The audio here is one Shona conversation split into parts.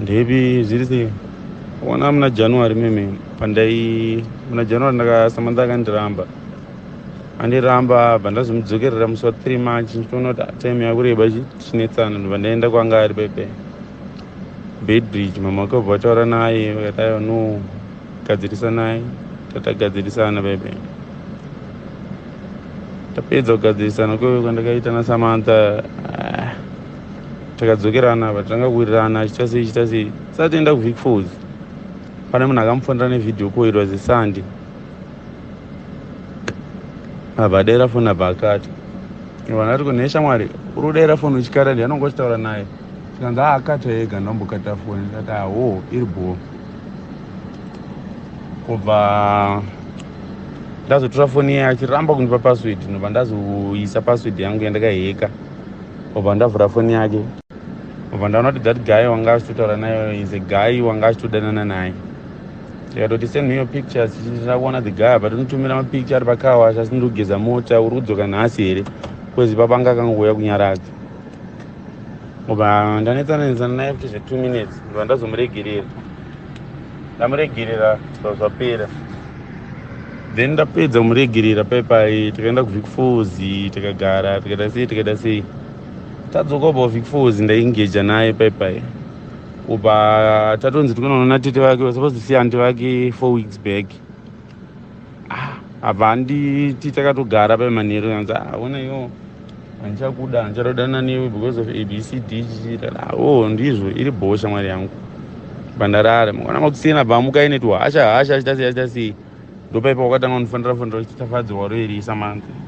ndepi zviri sei wana muna january meme pandai muna january ndakasamantha akandiramba andiramba abva ndazomudzokerera musi wa three march ndichiona kuti time yakureba chinetsana ndobva ndaenda kwanga ari pepe Beidridge mama wake wabva wataura naye vakati aiwa no gadzirisanai tatagadzirisana bebe tapedza kugadzirisana kweve kwandakaita nasamantha ah, takadzokerana but tanga kuwirirana achita sei chita sei satienda kuvik fos pane munhu akamufonera nevideo call it was a sunday abva adaira foni abva akati vanati ko nheshamwari uri kudaira foni uchikara ndi anonga uchitaura naye saka ngaakata ega ndambokata foni ndati awo ah, iri bhoo kubva ndazotora foni yaye achiramba kundipa password ndobva ndazoisa password yangu yandakaheka obva ndavhura foni yake obva ndaona kuti that guy wanga achitotaura naye is a guy wanga achitodanana naye ndikatoti send me your pictures chichindira kuona the guy but unotumira mapicture ari pakawasha asi ndiri kugeza mota uri kudzoka nhasi here kwezi papanga akangouya kunyaradza ngoba ndanetsana netsana naye kuti zve two minutes ngoba ndazomuregerera ndamuregerera zva zvapera then ndapedza kumuregerera paipai tikaenda kuvicfozi tikagara tikaita sei tikaita sei tadzoka uba kuvicfozi ndaingeja naye paipai uba tatonzi tikunoona tete vake vasapazi siya anti vake four weeks back ah, apa handiti takatogara pemanheru anzi ah, ona yo handichakuda handichadodana newe because of abcd chichiita oh ndizvo iri bhoo shamwari yangu bhandarare mangwana makusiyana bvamuka ine tuhasha hasha achita sei achita sei ndopaipa wakatanga kunifanira fanira kuti tafadzirwa roerisa manzi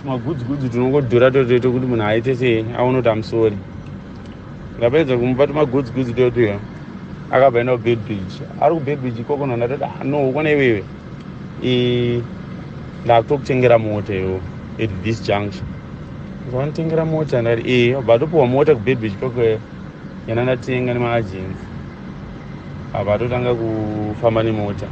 tumagudzigudzi tunongodhura totoita kuti munhu aite sei aone kuti amusori ndapedza kumupa tumagudzigudzi totuya akabva enda kubedbridge ari kubedbridge ikoko nona toti ah, no ukona iwewe ndakutokutengera mota iwo at this junction zvanotengera mota ndati e eh, bva topiwa mota kubedbridge ikoko kana ndatenga nemaagency apa atotanga kufamba nemota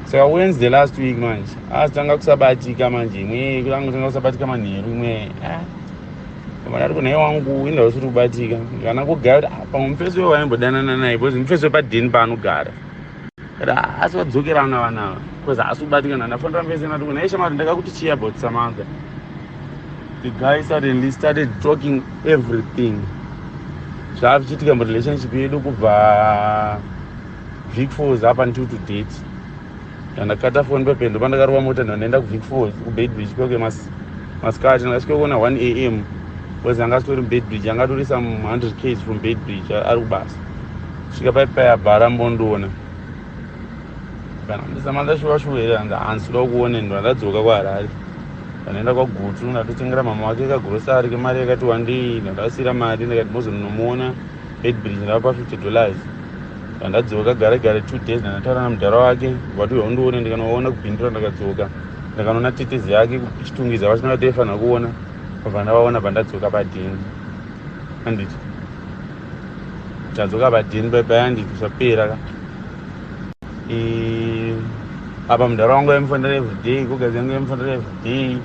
saka wens the last week manje azotanga ah, kusabatika manje imwe kutanga kusabatika manheru imwe ah. vana riko nhai wangu inda usiri kubatika kana kugara pamwe mufesi wewaimbodanana naye bcause mufesi wepadheni paanogara asi vadzokerana vana ava bcause haasi kubatikana ndafonera mese nati kunai shamari ndakakuti chii about samantha the guy suddenly started talking everything zvava zvichiitika murelationship yedu kubva vic falls up until to date ndandakata foni pependo pandakarova mota ndandaenda kuvic falls kubedbridge kyoke masikati ndakasvika kuona 1 a m bcause anga asitori mubedbridge anga atori some 100 ks from bedbridge ari kubasa svika pai pai abva arambondiona kana ndisamanda shuva shuva here hanzi hansi ndoda kukuoneni ndandadzoka kwaharare ndanoenda kwagutu ndatotengera mama wake kagurosari kemari yakati wandei ndandavasiyira mari ndikati mozoninomuona edbridge ndava pafifty dollars ndandadzoka gare gare two days ndandataura namudhara wake vatiuya undione ndikanoona kubhindura ndakadzoka ndakanoona tetezi yake kuchitungiza vachina vataifanira kuona vabva ndavaona bva ndadzoka padhini anditi tadzoka badini baibai handiti zvapera ka apa mudhara wangu aimufanira everyday kugazi yangu aimufanira everyday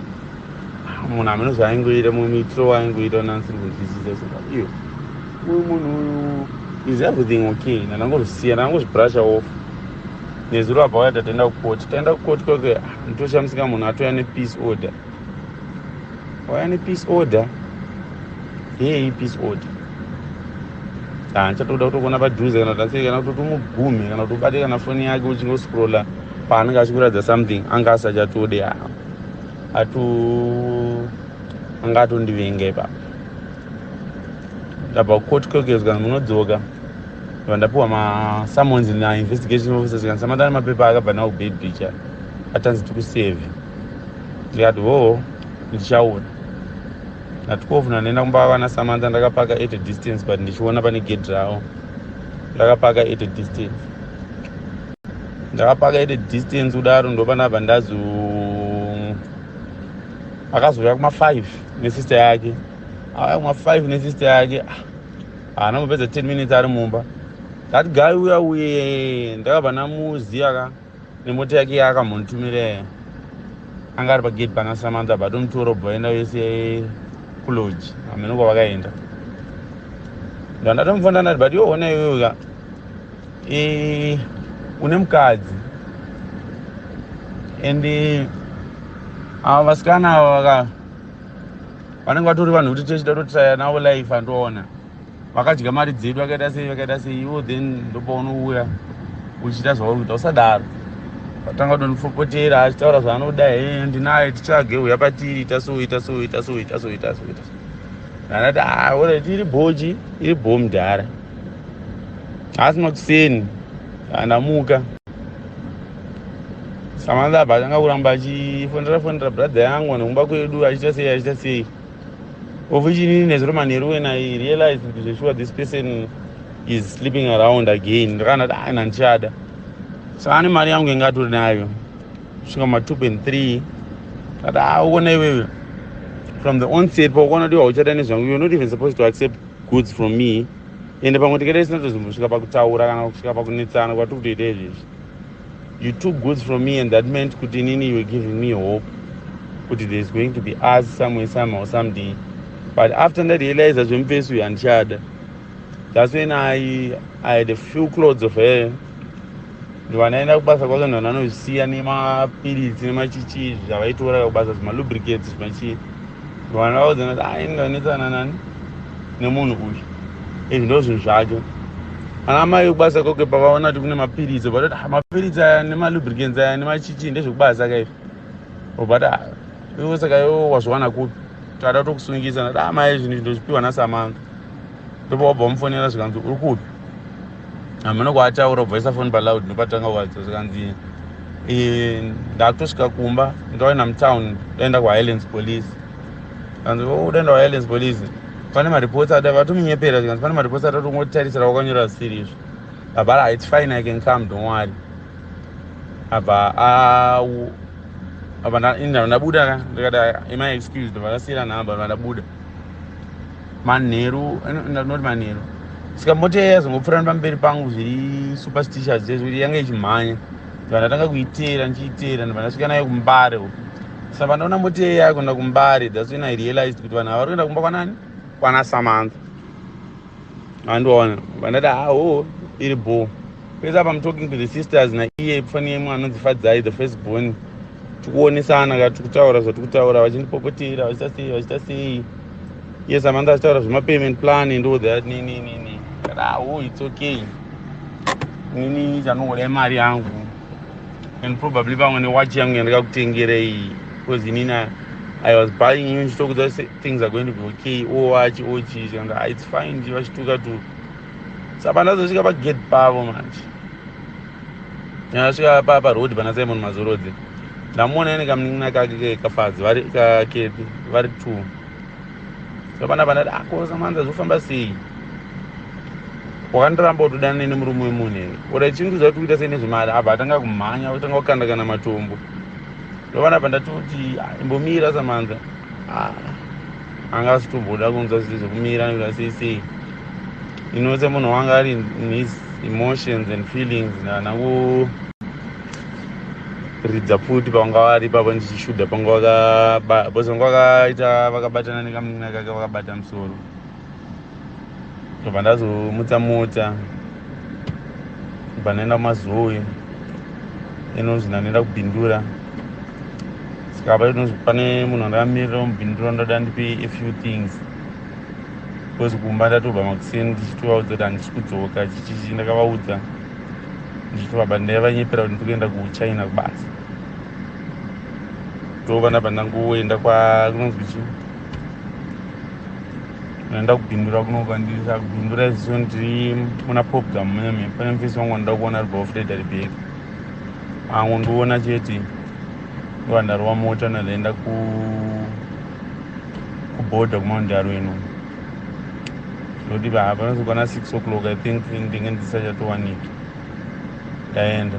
munhu amene zvaaingoita mumwe muitiro waaingoita nansiri kunzwisisa saka iyo uyu munhu uyu is everything okay nandangozvisiya ndangozvibrusha off nezuro apa waya tatenda kukoti taenda kukoti kwake ah, nditoshamisika munhu atouya nepeace order waya nepeace order yei peace order handichatoda kutokuona padhuze kana kuti asei kana kuti utomugumhe kana kuti ubate kana foni yake uchingoscrolla paanenge achikuratidza something anga asachatode haa atu anga atondivenga ipapa ndabva kucourt kokeswa munodzoka ndibva ndapiwa masummons nainvestigation officers kana samatana mapepa akabva nawo kubed bicha atanzi tikuseve ndikati hoo ndichaona na 12 ndandaenda kumba vana samantha ndakapaka at a distance but ndichiona pane gedhi ravo ndakapaka at a distance ndakapaka at a distance kudaro ndopanabva ndazo akazouya kuma5 nesister yake auya kuma5 nesister yake ah, haana kupedza 10 minutes ari mumba ndati gai uya uye ndakabva namuziya ka nemota yake yaakamontumire anga ari pagate pana samantha but umutoro bhoenda wese kuloji hamene kwavakaenda ndandatomufona ndati but yoona iyoyoka e, une mukadzi and ava vasikana ava vaka vanenge vatori vanhu kuti tese tatotaya navo life andiona vakadya mari dzedu vakaita sei vakaita sei ivo then ndopaunouya uchiita zvauri kuita usadaro atanga kudonipopotera achitaura zvaanoda he ndinaye tichage uya patiri ita so ita so ita so ita so ita so ita so anati ah, orit iri bhoji iri bho mudhara asi makuseni andamuka samandaba atanga kuramba achifonera fonera bradha yangu nekumba kwedu achiita sei achiita sei Officially nezuro manheru when I realized kuti zveshuwa this person is sleeping around again ndakana kuti aina ndichada so ane mari yangu inge atori nayo svika ma two point three kati a ah, uona iwewe from the onset paukaona kuti hauchada nezvangu you're not even supposed to accept goods from me ende pamwe tikada tisina tozombosvika pakutaura kana kusvika pakunetsana kwatiri kutoita izvezvi you took goods from me and that meant kuti inini you were giving me hope kuti there is going to be us somewhere somehow someding but after ndarealiza zvemufesi uyu handichada that's when i i had a few clothes of her ndovanaenda kubasa kwake nhu vananozvisiya nemapiritsi nemachichii zvavaitora kubasa zvemalubricates zvimachii vana vaudzana kuti ah, ini ndanetsana nani nemunhu uyu izvi ndo zvinhu zvacho ana mai vekubasa koke pavaona kuti kune mapiritsi vatoti ah, mapiritsi aya nemalubricants aya nemachichi ndezvekubasa kaizvi obata ah, ivo saka ivo wazviwana kupi tada tokusungisa nati amai ah, zvinhu izvi ndozvipiwa nasamanga ndopawabva wamufonera zvikanzi uri kupi hameno kwaataura ubvaisa foni paloud nopatanga kuvaridza zvikanzi eh, ndakutosvika kumba ndaenda mutown daenda kuhighlands police kanzi oh, daenda kuhighlands police pane mareports ada vatomunyepera zvikanzi pane mareports ada tongotarisira wakanyora zvisiri izvo baba ra its fine i can come don't worry abva awu apa ndabuda ndikati ima excuse ndivakasiyira nhamba vandabuda manheru not manheru sika mota iya yazongopfurana pamberi pangu zviri superstitious zvezvo kuti yanga ichimhanya ndibva ndatanga kuiteera ndichiiteera ndibva ndasvika nayo kumbare uku saka pandaona mota iya yakuenda kumbare that's when i realized kuti vanhu ava vari kuenda kumba kwanani kwana samantha andiwaona vandati hawo iri bho pese apa im talking to the sisters naiye pfani yemwe anonzi fadzai the first born tikuonesana ka tiri kutaura zvatiri kutaura vachindipopotera vachita sei vachita sei yes amanda achitaura zvemapayment plan ndo that nini nini rawo its okay nini chanongoda imari yangu and probably pamwe newachi yangu yandakakutengerei because inini i was buying you ndichitokudza things are going to be okay owachi oh, ochii oh, ah, its fine nje vachituka tu sa pandazosvika pagate pavo manje ndasvika pa paroad pana simon mazorodze ndamuona ene kamunin'ina kake kafadzi vari kakepi vari two so pana pandati akosa ah, manza zvofamba sei wakandiramba utodana nene murume wemunhu here ora chinhu zvatokuita sei nezvemari abva atanga kumhanya otanga kukanda kana matombo ndovanapa ndatoti imbomira samanza ah, anga asitomboda kunzwa zviri zvekumira nekuda sei sei ino semunhu wanga ari his emotions and feelings ndana kuridza pfuti pavanga vari ipapo ndichishuda panga vakabause vanga vakaita vakabatana nekamuninakake vakabata musoro ndobva ndazomutsa mota ndobva ndaenda kumazoe inonzi ndanoenda kubindura sikapa inonzi pane munhu andamirira mubindura ndoda ndipe a few things because kumba ndatobva makuseni ndichitovaudza kuti handisi kudzoka chichichi ndakavaudza ndichitovaba ndaivanyepera kuti ndikuenda kuchina kubasa ndobva ndabva ndangoenda kwakunonzi kuchii ndoenda kubindura kunoka ndisa kubindura iziso ndiri muna popgam meme pane mufesi wangu wandida kuona ari baofreda ribek angu ndiona chete ndowandarova mota ndoenda ku kuborder kumaundaro ino ndoti vapanozoka na six o'clock i think ndinge ndisachatowaniki ndaenda